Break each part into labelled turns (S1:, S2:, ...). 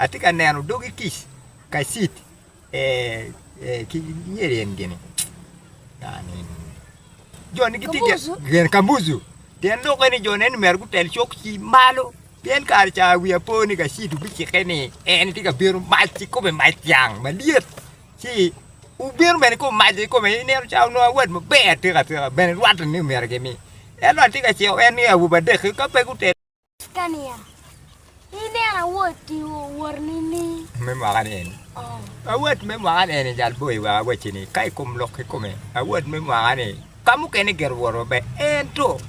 S1: atye ka neno dogi kic kacit ki yel en gini joni gitye gin kambucu pien lukke ni jone ni myero gutel cok ki malo pien kare ca wiya po ni kacit obicikke ni en tye ka bino mac ki kome mac dyang malyet ci obino bene kong omaco ki kome i nino ca onongo awad maber atika tika bene rwatte ni myero gimi ento atye ka ciko en ni awobe adek-ki ka pe gutel Tika niya, ineno awoti wot nini? Me mwaka ni eni. Oh. Awot me mwaka ni eni jal boyi wa awacci ni ka i kom lok kikome awot me mwaka ni ka mukene gero woro maber ento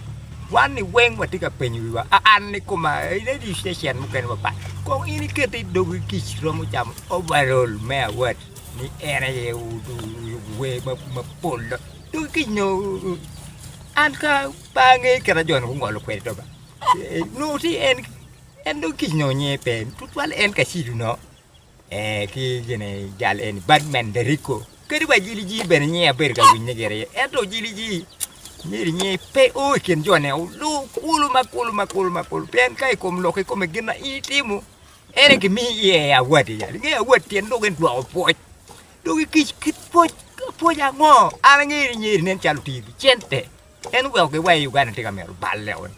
S1: wan ni weng watye ka penyo wiwa a an ni koma radio station mukene mapat kong in ikete i dogi kic romo camo overall me award ni en aye wer mapol dogi kic no an ka Ba angeyo kit ma jo-ni gungolo kwede do ba. Nongo ti en en dong kic nongo nyinge pe tutwal en ka cidu no. Eh, ki gine jal eni Batman Deriko. Kadi wa jili ji bene nyinge abedo ka winye gire. Ento jili ji nyeri nyinge pe o i kin jo-ni olu kulu ma kulu ma kulu ma kulu pien ka i kom lok i kome gin ma in itimo en aye gimiyo iye award yal. Ingeyo award tyen dong en dwoko pwoc. Dong kic kit pwoc, pwoc ango? An angeyo ni nyeri nen calo otiyo ki cente. En oweko giwai Uganda tye ka mito balle o ni.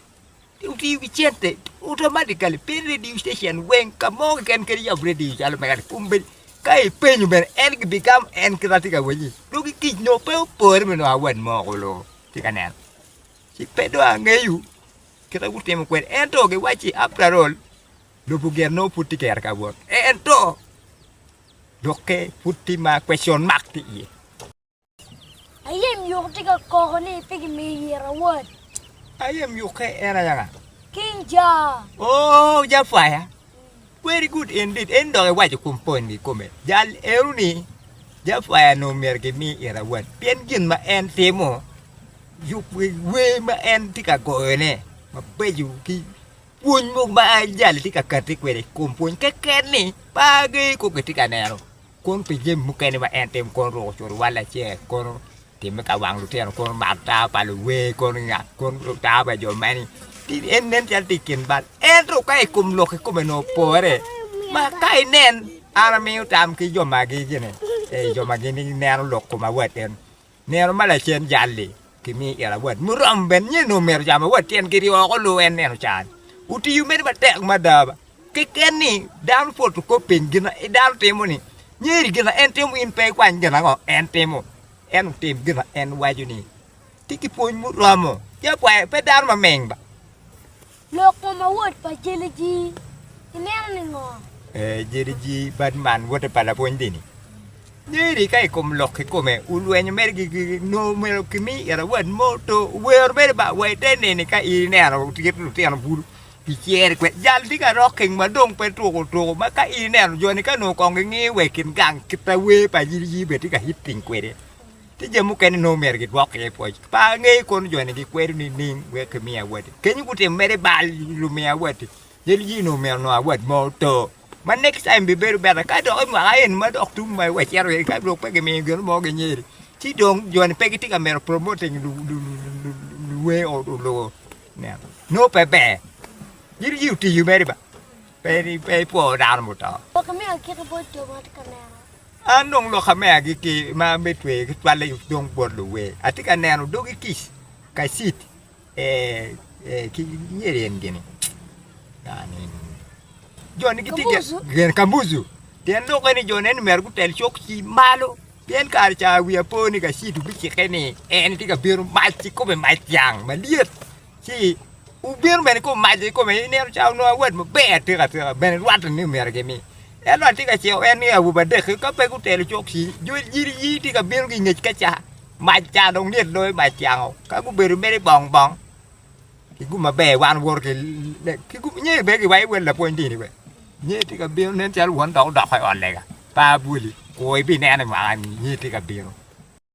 S1: Otiyo ki cente automatically pe radio station weng ka mo keken kadi yab radio calo mega ni kong bed ka ipenyo bene en ki bigamo en kit ma tye ka wacci dong ki kic nongo pe opore me nongo award mo ko lo tye ka neno. Ci pe dong angeyo kit ma gutimo kwede ento giwacci after all lobo gire nongo pud tye kero ka wot ento dokke pud tye ma question mark tye iye. Aye myuko tye ka koko ni pe gimiyo yiro awot. Aye myuke en ayaka. King Ja. Oh, Ja Fire. Very good indeed. En dok iwaco kum point ni kome. Jal ero ni Ja Fire no myero gimi ira awot. Pien gin ma en timo yub wer ma en tye ka goyo ne mabeco ki pwony mogo ma jali tye ka kati kwede kum pwony keken ni bagi ko gitye ka neno. Kun pi jami mukene ma en timo, kono ruko cur iwal acel, kono timme ka wang lutino, kono mato tawa pa luwer, kono ngat, kono tawa pa jo mani. En nen calo tye i kin bal. Ento ka i kom lok kikome onongo opore, ma ka inen, an amiyo tam ki jo magi gini, ee, jo ma gin gineno lok koma wateni. Nino ma lacen jal-li kimiyo ira wat muromo bene nyen onongo mito camo wat tyen kit i oko luu en neno caa-ni. Otiyo mene matek mada ba. Keken ni dano pwot okop piny gin ma dano timo ni nyo iri gin ma en timo in pe ikwany gin ango en timo. En otim gin ma en waco ni tye ki pwony muromo. Ci apwayo pe dano maming ba. Lok mo ma wot pa Jeliji ineno ni ngo? Ee Jeliji bad man wote pa lapwony dini. Nyeri ka ikom lok kikome ulwenyo mere gigi no mero kimi ira wad mo to wer mere ba wa ite neni ka ineno tit lutino bulu ki cere kwe jal di ka rock king ma dong pe tuko tuko ma ka ineno joni ka no kong ingi we kin gang kita wer pa Jeliji be tika hit ping kwede. Tye jami mukene nongo myero gidwok iye pwoc. Pe angeyo kono jo-ni gikwedo nining wek kimi awatti. Kenyo gutimo mere bal i lumiyo awatti. Yel ji onongo myero onongo awat mo oto. Ma next time bibedo better. Ka dok i mwaka eni ma dok tum ma wacito iye-ni ka dong pe gimiyo gin mo ginyeri, ci dong jo-ni pe gitye ka mito promoting luwe olubo. Nen, nongo pe ber. Yel ji oti mere ba. Pe ipwo dano muto. Lok me agikki bot jo ma atye ka neno. An dong loka me agikki ma me tweyo ki cwalle dong bot luwer. Atye ka neno dogi kic, kacit, ee, ki myero en gini, yani, joni gitye gin kambuzu. Pien lok eni jo neni myero gutel cok ci malo. Pien kare ca wi apo ni kacit obicikke ni en tye ka bino mac ci kome mac cang malyet. ci wubino bene ka wumaco kikome i nino ca wunongo awat maber atika atika bene rwatte ni myero gimi. Ento atye ka ciko en ni awobe adek-ki ka pe gutelo cok ci yiriyiri tye ka bino ki i ngec ka ca, mac ca dong lyet loyo mac kiango ka gubedo mere bong bong ki gum maber wan owoto ki nyo bene ki waco wele lapwony dini be nyo tye ka bino nen calo won dok odoko i ot lega pa bwoli kur ibinene mwaka-ni nyo tye ka bino.